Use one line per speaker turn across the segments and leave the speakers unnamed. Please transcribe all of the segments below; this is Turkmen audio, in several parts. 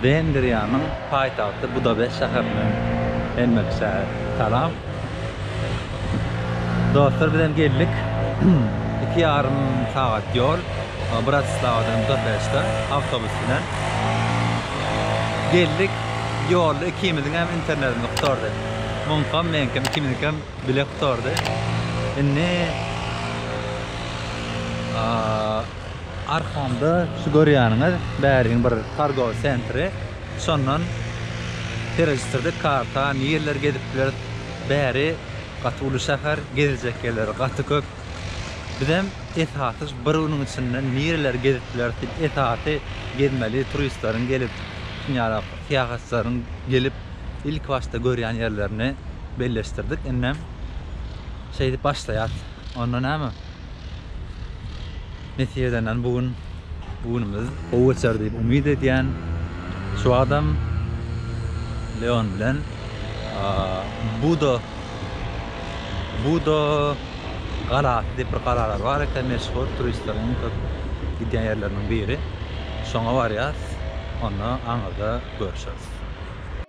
Wengriýanyň paýtagty Budabest şäherinden hemmelişe salam. Dostlar biz hem geldik. Iki ýarym sagat ýol Bratislawadan Budapeşte awtobus bilen. Geldik ýolda ikimiziň hem internetimiz gutardy. Muňkam meňkem ikimiziňkem bile gutardy. Indi Arkamda şu görýäniňiz Bäriň bir targowy sentri. Şondan serejistirdik karta, nirleri gezip bileris. Bäri gaty uly şäher, gezjek ýerleri gaty köp. Bizem esasy şu bir günüň içinde nireleri gezip bileris diýip, esasy gezmeli turistleriň gelip, dünýälik syýahatçylaryň gelip, ilki başda görýän ýerlerini belleşdirdik. Indem şeýdip başlaýas. Onda näme, Nesip edenden bu gün bu günümiz gowy geçer diýip umyt edýän. Şu wagtam Leon bilen Budo Budo galasy diýip bir galalar bar eken meşhur turistleriň iň köp gidýän ýerleriniň biri. Şoňa barýas. Onda aňyrda görüşeris.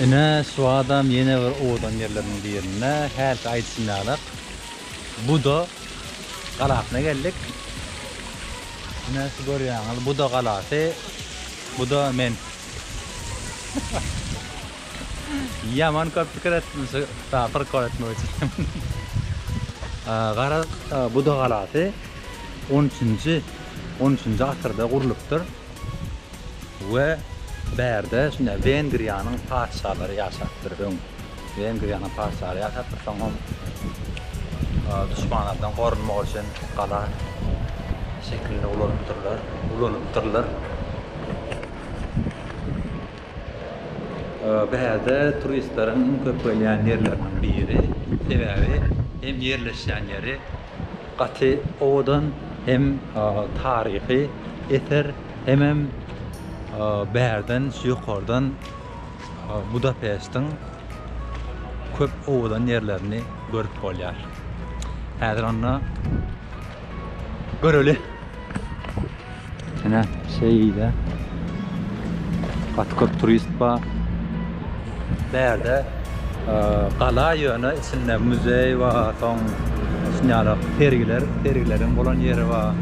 Ine, şu adam ýene bir owadan ýerleriň birinde. Hälki aýdyşym ýaly, Buda galasyna geldik. Ine, şu görýäňiz, Buda galasy. Buda men. Ýaman köp pikir etdim şu prikol etmek üçin. Garaz Buda galasy 13-nji 13-nji asyrda gurlupdyr. We bärde şunda Wengriýanyň patyşalary ýaşapdyr öň. Wengriýanyň patyşalary ýaşapdyr, soňam duşmanlardan gorunmak üçin gala şekilinde ulanypdyrlar, ulanypdyrlar. Bäde turistleriň iň köp gelýän ýerleriniň biri, sebäbi hem ýerleşýän ýeri gaty owadan, hem taryhy eser, hemem bärden ýokardan Budapestiň köp owadan ýerlerini görüp bolýar. Häzir onda göreli. Ene şeýle. Gaty köp turist bar. Bärde gala ýöne içinde muzeý bar, soň şunýala sergiler, sergileriň bolan ýeri bar.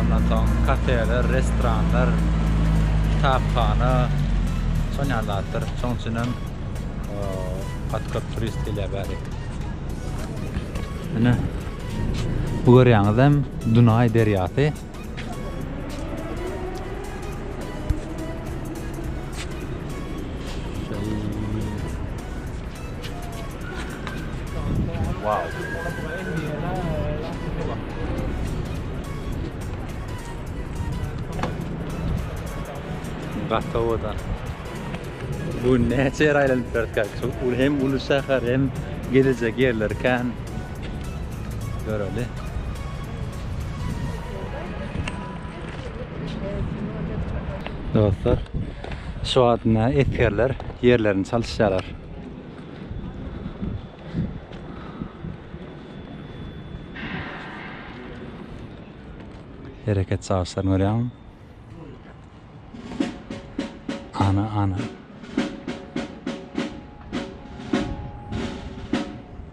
Ondan soň kafeler, restoranlar, kitaphana, şunýaly zatlar. Şonuň üçin hem gaty köp turist gelýär bäri. Ene bu görýäňizem Dunaý derýasy. Gaty owadan. Bu näçe ýer aýlanyp berdik. Hem uly şäher hem gezejek ýerler kän. Göreli. Dostlar, şu wagtynda esgerler ýerlerini çalyşýarlar. Hereket çalyşlaryny görýäňmi? Ana, ana.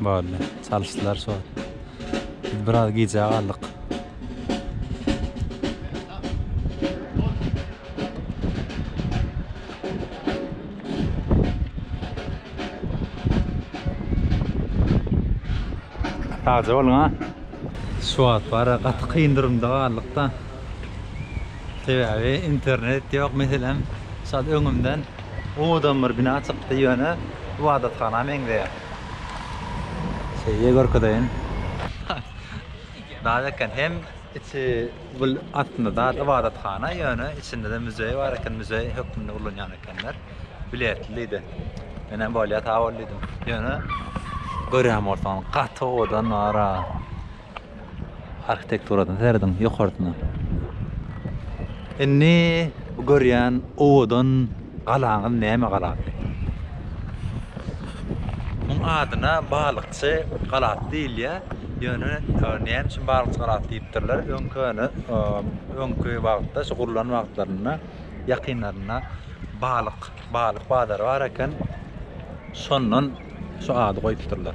Boldy. Çalyşdylar şo. Biz biraz gijä galdyk. Sagja bolun ha. Şu wagt bara gaty kyn durumda galdyk-da. Sebäbi internet ýok meselem şol öňümden Owadan bir bina çykdy ýöne ybadathana meňzeýär. Şeýle görkezeýin. Dal eken hem içi gül aslynda dal ybadathana ýöne içinde-de müzeý bar eken müzeý hökmünde ulanýan ekenler. Biletli diýdi. Menem bolýa sag bol diýdim. Ýöne görýän bolsaň gaty owadan bar-a. Arhitekturadan serediň ýokarsyna. Indi bu görýän owadan galaňyz näme galasy? Muň adyna Balykçy galasy diýilýär. Ýöne näme üçin Balykçy galasy diýipdirler? Öňküni, öňki wagtda şu gurlan wagtlarynda ýakynlarynda balyk, balyk bazary bar eken. Şondan şu ady goýupdyrlar.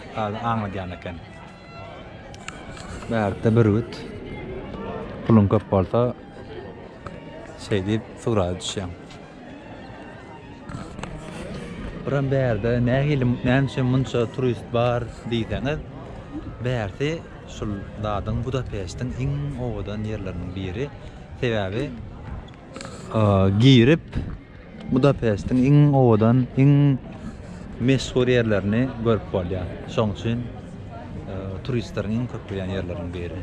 Gazy aňladýan eken. Bärde bürgüt. Puluň köp bolsa şeý diýip suraga düşýäň. Buram bärde nähili näme üçin munça turist bar diýseňiz, bärsi şul zadyň Budapeştiň iň owadan ýerleriniň biri. Sebäbi girip Budapestiň iň owadan, iň meşhur ýerlerini görüp bolýar. Şoň üçin turistleriň iň köp gelýän ýerleriniň biri.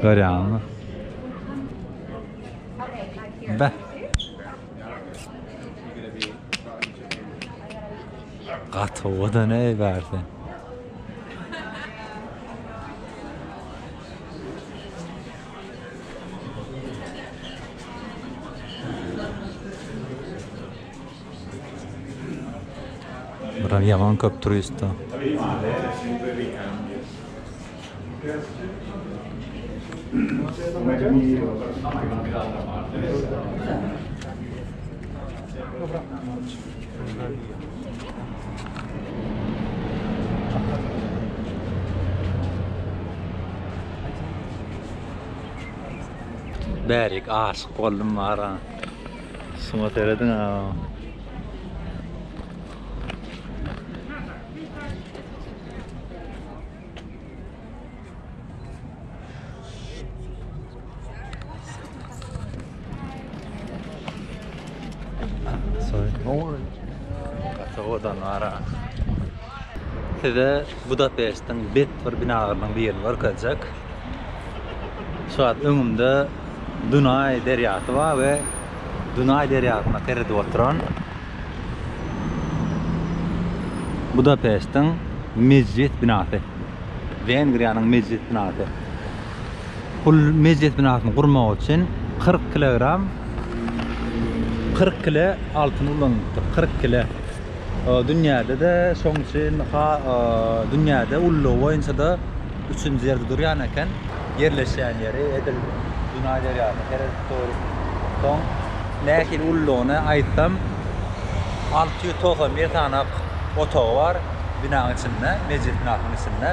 Görýäňizmi? Beh. Gaty owadan eý bärsi. Biraz ýaman köp turist-a. Bärik aşyk boldum bara. Suma seredin ha. Sowadan ara. Size Budapest'in bet bir binalaryndan birini görkezjek. Şu an öňümde Dunay derýasy bar we Dunay derýasyna seredip oturan Budapestiň Mejlis binasy. Wengriýanyň Mejlis binasy. Bul Mejlis binasyny gurmak üçin kyrk kilogram kyrk kile altyn ulanylypdyr. Kyrk kile. Dünýäde-de şoň üçin ha dünýäde ullugy boýunça-da üçünji ýerde durýan eken. Ýerleşýän ýeri edil Dunaý derýasyna seredip Dogry. Soň nähili uludygyny aýtsam, alty ýüz togsan bir sanak otagy bar binaň içinde, mejlis binasynyň içinde.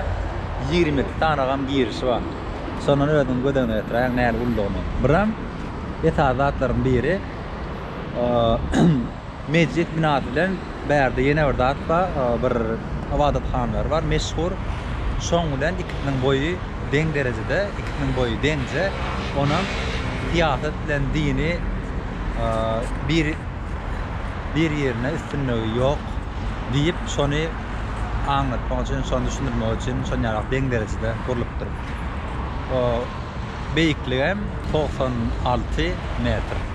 Ýigrimi iki sanagam girişi bar. Şondan özüňiz göz öňüne getiräýiň nähili uludygyny. Buram esasy zatlaryň biri, Mejlis binasy bilen bärde ýene bir zat bar, bir ybadathanalary bar, meşhur. Şoň bilen ikisiniň boýy deň derejede, ikisiniň boýy deňje. Onam syýasat bilen dini bir bir ýerine üstünligi ýok diýip şony aňlatmak üçin, şony düşündirmek üçin şon ýaly deň derejede gurlupdyr. Beýikligem togsan alty metr.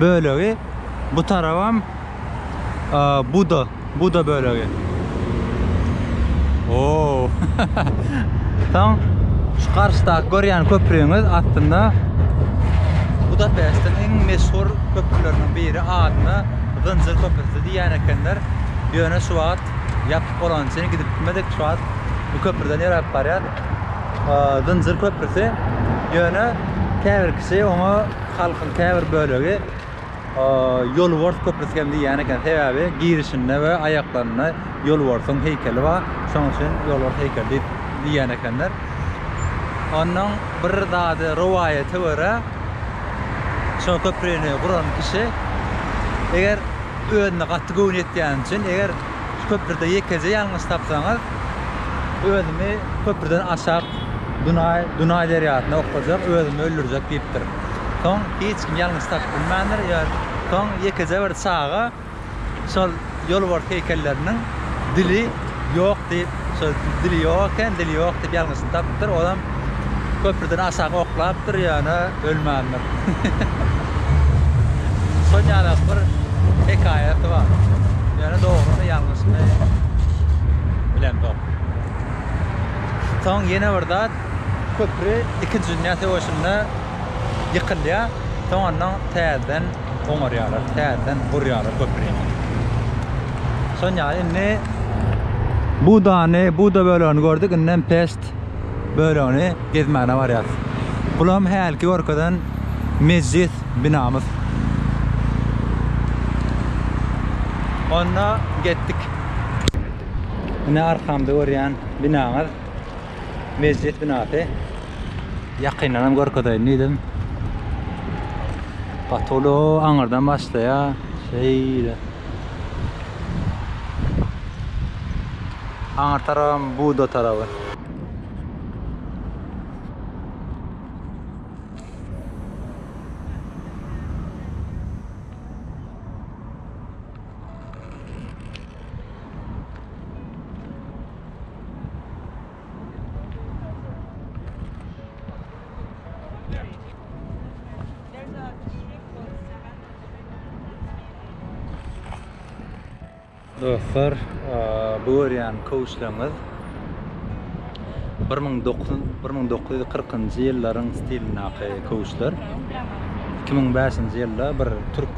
bölegi bu tarabam buda buda bölegi o soň şu garşydaky görýän köprüňiz aslynda budapestiň iň meşhur köprüleriniň biri adyna zynjyr köprüsi diýýän ekenler ýöne şu wagt ýapyk bolany üçin gidip bilmedik şu wagt bu köprüden ýöräp barýas zynjyr köprüsi ýöne käbir kişi oňa Halkyň käbir bölegi Ýolbars köprüsi hem diýýän eken, sebäbi girişinde we aýaklarynda Ýolbarsyň heýkeli bar, şonuň üçin Ýolbars heýkeli diýip diýýän ekenler. Onnoň bir zady rowaýata görä, şo köprini guran kişi eger özüne gaty göwni ýetýäni üçin, eger Şu köprüde ýekeje ýalňyş tapsaňyz, özümi köprüden aşak Dunaý, Dunaý derýasyna oklajak, özümi öldürjek diýipdir. Soň hiç kim ýalňyş tapyp bilmändir. Soň ýekeje bir çaga şol ýolbars heýkelleriniň dili ýok diýip, Şo dili ýok eken, dili ýok diýip ýalňyşyny tapypdyr. Onam köprüden aşak oklapdyr, ýöne ölmändir. Şol ýaly bir hekaýasy bar. Ýöne dogrymy, ýalňyşymy bilemzok. Soň ýene bir zat, köpri Ikinji dünýä söweşinde ýykylýar. Soň ondan täzeden oňarýarlar, täzeden gurýarlar köprini. Sonja indi Budany, Buda bölegini gördük, indem Pest bölegini gezmäne barýarys. Bulam hälki görkezen mejlis binamyz. Onda getdik. Ine arkamda görýän binaňyz. Mejlis binasy. Ýakyndan hem görkezeýin diýdim. Gaty uly aňyrdan başlaýar. Şeýle. Aňyr tarabam Buda tarabı. Dostlar, bu görýän kowçlaryňyz 1940-njy ýyllaryň stilindäki kowçlar. 2005-nji ýylda bir türk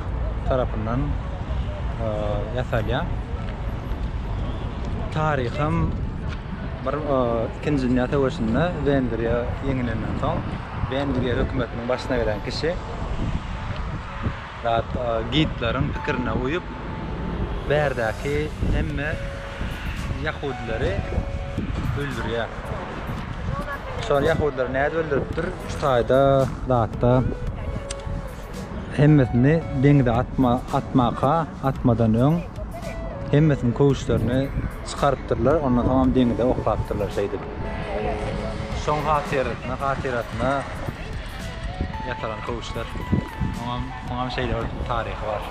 tarapyndan ýasalýar. Taryhym bir ikinji dünýä söweşinde Wengriýa ýeňilenden soň Wengriýa hökümetiniň başyna gelen kişi zat gidleriň pikirine uýup bärdäki hemme ýahudilary öldürýär. Şol ýahudilary nädip öldüripdir? Şu taýda zatda Hemmesini deňze atma, atmaka, atmadan öň hemmesini köwüşlerini çykarypdyrlar, ondan soňam deňze oklapdyrlar şeýdip. Şoň hatyrasyna, hatyrasyna ýasalan köwüşler. Oňam, oňam şeýle bir taryhy bar.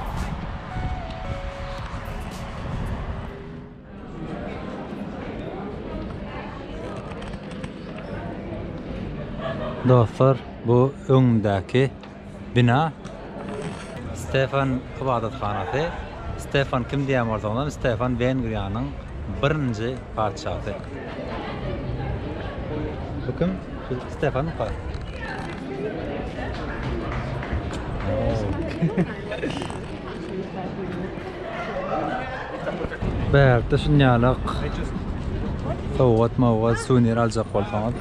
Dostlar bu öňümdäki bina Stefan ybadathanasy. Stefan kim diýen bolsaňyzam Stefan Wengriýanyň birinji patyşasy. Bu kim? Şu Stefan mı? Bärde şunýalak sowgat mowgat suwnir aljak bolsaňyz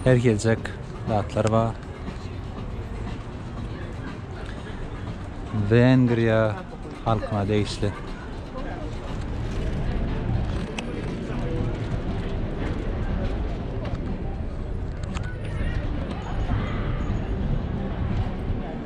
her geljek zatlar bar Wengriýa halkyna degişli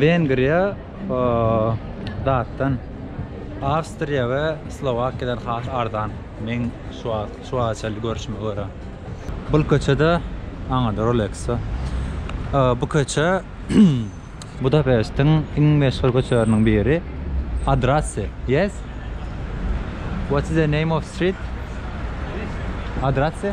Wengriýa datdan, Awstriýa we Slowakiýadan has arzan, meň şu wagta çenli görşüme görä. Bul köçede aňyrda Rolexo. Bu köçe Budapestiň iň meşhur köçeleriniň biri. Adrasy, yes? What is the name of street? Adrasy?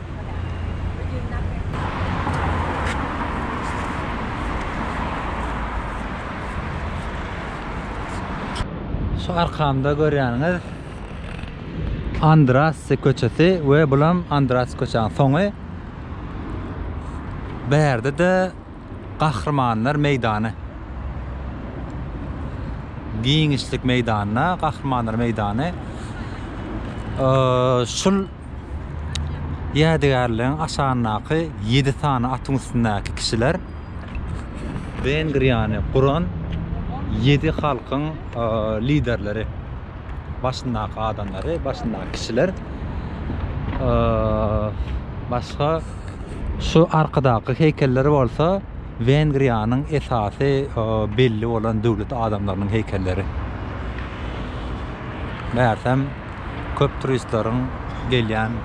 Şu arkamda görýäniňiz Andrassi köçesi we bulam Andrassi köçäniň soňy. Bärde-de Gahrymanlar meýdany. Giňişlik meýdanyna Gahrymanlar meýdany. Şul Ýädygärligiň aşagyndaky ýedi sany atyň üstündäki kişiler Wengriýany guran ýedi halkyň liderleri, başyndaky adamlary, başyndaky kişiler. Başga şu arkydaky heýkeller bolsa Wengriýanyň esasy belli bolan döwlet adamlarynyň heýkelleri. Megerem, köp turistleriň gelýän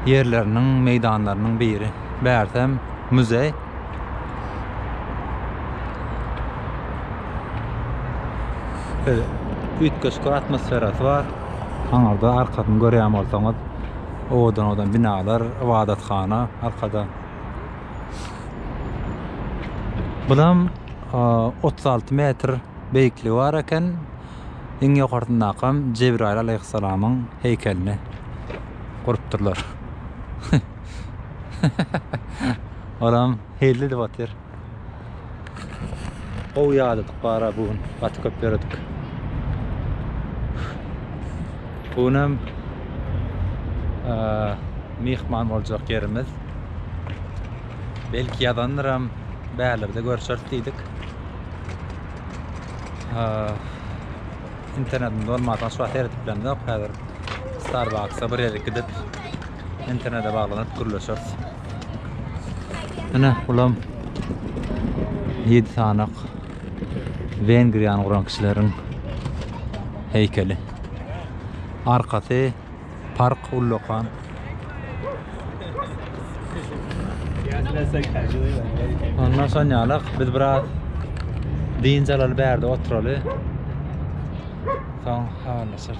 ýerleriniň, meýdanlarynyň biri. Bärsem, muzeý. Şeýle üýtgeşik atmosferasy bar. Aňyrda arkasyny görýän bolsaňyz, owadan-owadan binalar, ybadathana arkada. Bulam otuz alty metr beýikligi bar eken. iň ýokarsyndakyam Jebraýyl alaýhyssalamyň heýkelini gurupdyrlar. Olam hilli edip otyr. Gowy ýadadyk bara bu gün. Gaty köp ýöredik. Bu günem myhman boljak ýerimiz belki ýazandyram bärlerde görşeris diýdik. Internetim dolmansoň hiç wagt seredip bilemzok. Häzir Starbucks-a bir ýerik gidip internete baglanyp gürleşeris. Ine, bulam 7 sanak Wengriýany guran kişileriň heýkeli. Arkasy Park ullakan. Ondan soň ýalak biz biraz dynç alaly bärde oturaly. Soň habarlaşarys.